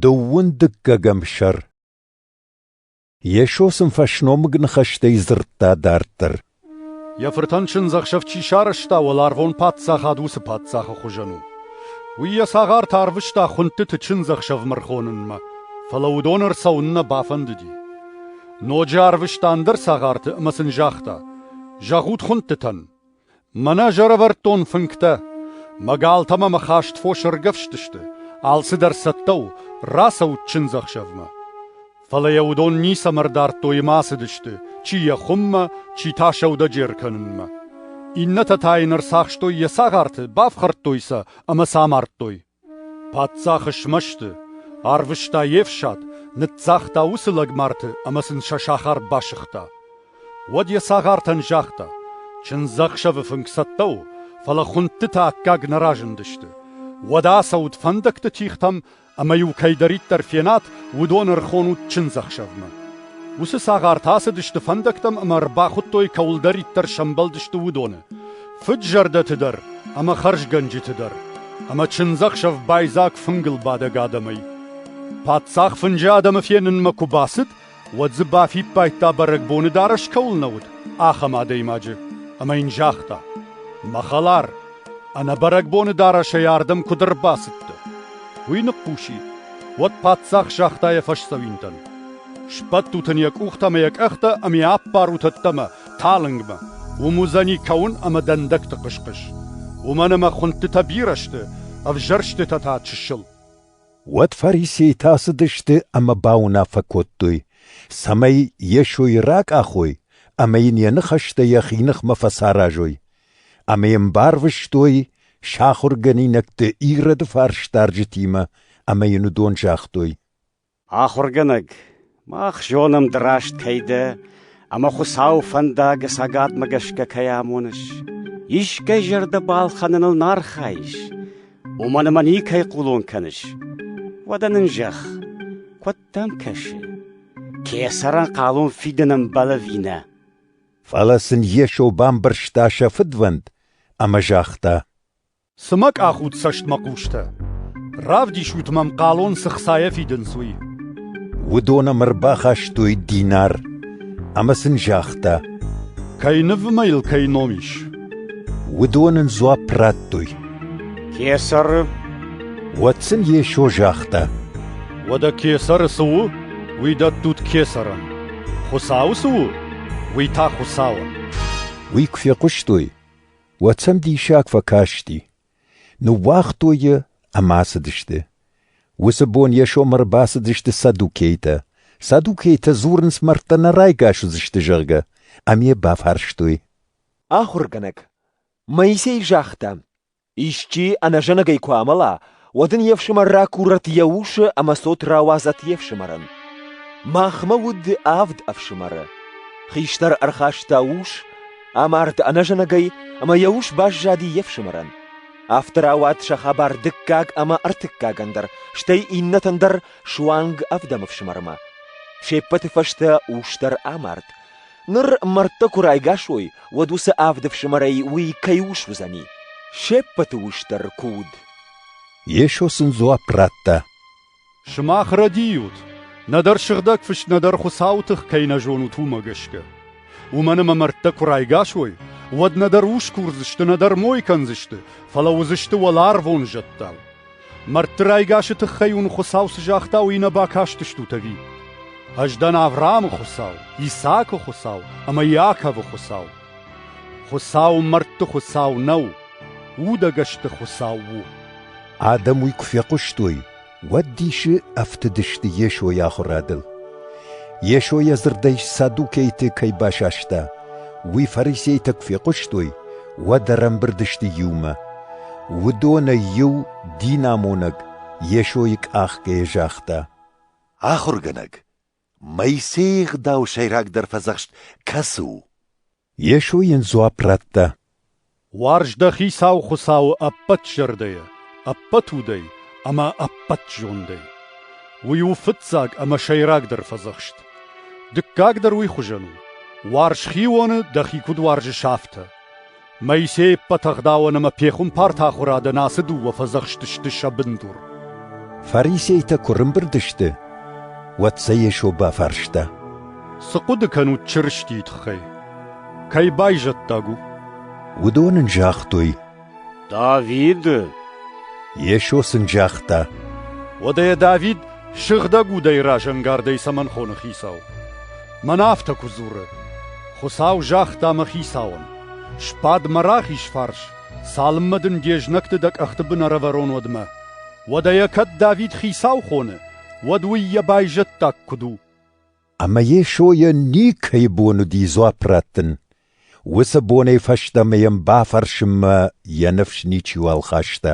Дыууын дыккӕгӕм сӕр Йесо сын фӕсномыг ныхӕстӕй дзырдта дарддӕр. Йӕ фыртӕн чындзӕхсӕв чи сарӕзта, уӕларвон паддзахад уыцы паддзахы хуызӕн у. Уый йӕ цагъарты арвыста хуындтыты чындзӕхсӕвмӕ рхонынмӕ, фӕлӕ уыдон ӕрцӕуын нӕ бафӕндыди. Ноджы арвыста ӕндӕр цагъарты ӕмӕ сын загъта: «Зӕгъут хуындтытӕн, Мӕнӕ ӕз ӕрӕвӕрдтон фынгтӕ. Мӕ галтӕ мӕ хӕст фосы ӕргӕвстысты, алцыдӕр цӕттӕ у, рацӕут чындзӕхсӕвмӕ. Фӕлӕ йӕ уыдон ницӕмӕ ӕрдардтой ӕмӕ ацыдысты, чи йӕ хуыммӕ, чи та сӕудӕджер кӕнынмӕ. Иннӕтӕ та йын ӕрцахстой йӕ цагъарты, бафхӕрдтой сӕ ӕмӕ сӕ амардтой. Паддзах смӕсты, арвыста йе фсад, ныццагъта уыцы лӕгмарты ӕмӕ сын сӕ сахар басыгъта. Уӕд йӕ цагъартӕн загъта: «Чындзӕхсӕвы фынг цӕттӕ у, фӕлӕ хуындтытӕ аккаг нӕ разындысты. Уӕдӕ ацӕут фӕндӕгты тихтӕм ӕмӕ-иу кӕйдӕриддӕр фенат, уыдон ӕрхонут чындзӕхсӕвмӕ». Уыцы цагъартӕ ацыдысты фӕндӕгтӕм ӕмӕ ӕрбахуыдтой, кӕуылдӕриддӕр сӕмбӕлдысты, уыдоны. Фыд-зӕрдӕты дӕр ӕмӕ хӕрзгӕнджыты дӕр, ӕмӕ чындзӕхсӕв байдзаг фынгыл бадӕг адӕмӕй. Паддзах фынджы адӕмы фенынмӕ куы бацыд, уӕд дзы бафиппайдта, бӕрӕгбоны дарӕс кӕуыл нӕ уыд, ахӕм адӕймаджы, ӕмӕ йын загъта: «Мӕ хӕлар, ӕнӕ бӕрӕгбоны дарӕсӕй ардӕм куыд ӕрбацыдтӕ?» Уый ныхъхъуси. Уӕд паддзах загъта йӕ фӕсдзӕуинтӕн: «Сбӕттут ын йӕ къухтӕ ӕмӕ йӕ къӕхтӕ ӕмӕ ӕппарут ӕддӕмӕ, Талынгмӕ. Уым уыдзӕни кӕуын ӕмӕ дӕндӕгты хъыс-хъыс. Уымӕн ӕмӕ хуындтытӕ бирӕ сты, ӕвзӕрстытӕ та чысыл. Уӕд фарисейтӕ ацыдысты ӕмӕ бауынаффӕ кодтой, цӕмӕй Йесойы ракъахой ӕмӕ йын йӕ ныхӕстӕ йӕхи ныхмӕ фӕцаразой. Ӕмӕ йӕм барвыстой сӕ ахуыргӕнинӕгты Ироды фарсдарджытимӕ ӕмӕ йын уыдон загътой: Ахуыргӕнӕг, мах зонӕм, ды раст кӕй дӕ ӕмӕ Хуыцауы фӕндагы цӕгатмӕ гӕсгӕ кӕй амоныс. Искӕй зӕрдӕ балхӕныныл нӕ архайыс, уымӕн ӕмӕ никӕй хъулон кӕныс. Уӕдӕ нын зӕгъ, куыд дӕм кӕсы, кесӕрӕн хъалон фидын ӕмбӕл ӕви нӕ? Фӕлӕ сын Йесо бамбӕрста сӕ фыдвӕнд ӕмӕ загъта: Цы мӕ къахут цӕстмӕ хъустӕ? Равдисут мӕм хъалон цы хцайӕ фидынц, уый. Уыдон ӕм ӕрбахастой динар ӕмӕ сын загъта, кӕй ныв ӕмӕ йыл кӕй ном ис. Уыдон ын дзуапп радтой. Кесары. Уӕд сын Йесо загъта, Уӕдӕ кесары цы у, уый дӕттут кесарӕн. Хуыцауы цы у, уый та Хуыцауӕн. Уый куы фехъуыстой, уӕд сӕм диссаг фӕкасти. Ныууагътой йӕ ӕмӕ ацыдысты. Уыцы бон Йесомӕ ӕрбацыдысты саддукейтӕ. Саддукейтӕ дзурынц, мӕрдтӕ нӕ райгас уыдзысты, зӕгъгӕ, ӕмӕ йӕ бафарстой. Ахуыргӕнӕг, Моисей загъта, исчи ӕнӕзӕнӕгӕй куы амӕла, уӕд ын йе фсымӕр ракурӕт йӕ усы ӕмӕ цот рауадзӕт йе фсымӕрӕн. Махмӕ уыд авд ӕфсымӕры. Хистӕр ӕрхаста ус, амард ӕнӕзӕнӕгӕй, ӕмӕ йӕ ус баззади йе фсымӕрӕн. Афтӕ рауад сӕ хабар дыккаг ӕмӕ ӕртыккагӕн дӕр, стӕй иннӕтӕн дӕр суанг авдӕм ӕфсымӕрмӕ. Се ппӕты фӕстӕ ус дӕр амард. Ныр мӕрдтӕ куы райгас уой, уӕд уыцы авд ӕфсымӕрӕй уый кӕй ус уыдзӕни? Се ппӕты ус дӕр куы уыд. Йесо сын дзуапп радта. Сымах рӕдийут, нӕдӕр Сыгъдӕг Фыст, нӕдӕр Хуыцауы тых кӕй нӕ зонут, уымӕ гӕсгӕ. Уымӕн ӕмӕ мӕрдтӕ куы райгас уой, уӕд нӕдӕр ус курдзысты, нӕдӕр мой кӕндзысты, фӕлӕ уыдзысты уӕларвон зӕдтӕ. Мӕрдты райгасы тыххӕй уын Хуыцау цы загъта, уый нӕ бакастыстут ӕви? Ӕз дӕн Авраамы Хуыцау, Исаакы Хуыцау ӕмӕ Иаковы Хуыцау. Хуыцау мӕрдты Хуыцау нӕу, удӕгӕсты Хуыцау у. Адӕм уый куы фехъуыстой, уӕд дисы ӕфтыдысты Йесойы ахуырадыл. Йесо йӕ дзырдӕй саддукейты кӕй басаста, уый фарисейтӕ куы фехъуыстой, уӕд ӕрӕмбырд сты иумӕ. Уыдонӕй иу, динамонӕг, Йесойы къахгӕйӕ загъта: Ахуыргӕнӕг, Моисейы ӕгъдау сӕйрагдӕр фӕдзӕхст кӕцы у? Йесо йын дзуапп радта: Уарз дӕ Хицау Хуыцауы ӕппӕт зӕрдӕйӕ, ӕппӕт удӕй ӕмӕ ӕппӕт зондӕй. Уый у фыццаг ӕмӕ сӕйрагдӕр фӕдзӕхст. Дыккаг дӕр уый хуызӕн у: уарз хионы дӕхи куыд уарзыс, афтӕ. Моисей ӕппӕт ӕгъдауӕн ӕмӕ пехуымпарты ахуырадӕн ацы дыууӕ фӕдзӕхсты сты сӕ бындур. Фарисейтӕ куы рымбырд сты, уӕд сӕ Йесо бафарста. Цы хъуыды кӕнут Чырыстийы тыххӕй? Кӕй байзӕддаг у? Уыдон ын загътой, Давид! Йесо сын загъта. Уӕдӕ Давид сыгъдӕг удӕй разӕнгардӕй цӕмӕн хоны хицау? Мӕн афтӕ куы дзуры. Хуыцау загъта мӕ хицауӕн: Сбад мӕ рахиз фарс, цалынмӕ дын де знӕгты дӕ къӕхты бын ӕрӕвӕрон, уӕдмӕ. Уӕдӕ йӕ кӕд Давид хицау хоны, уӕд уый йӕ байзӕддаг куыд у? Ӕмӕ Йесойӕн никӕйы бон уыди дзуапп раттын. Уыцы бонӕй фӕстӕмӕ йӕм бафӕрсынмӕ йӕ ныфс ничиуал хаста.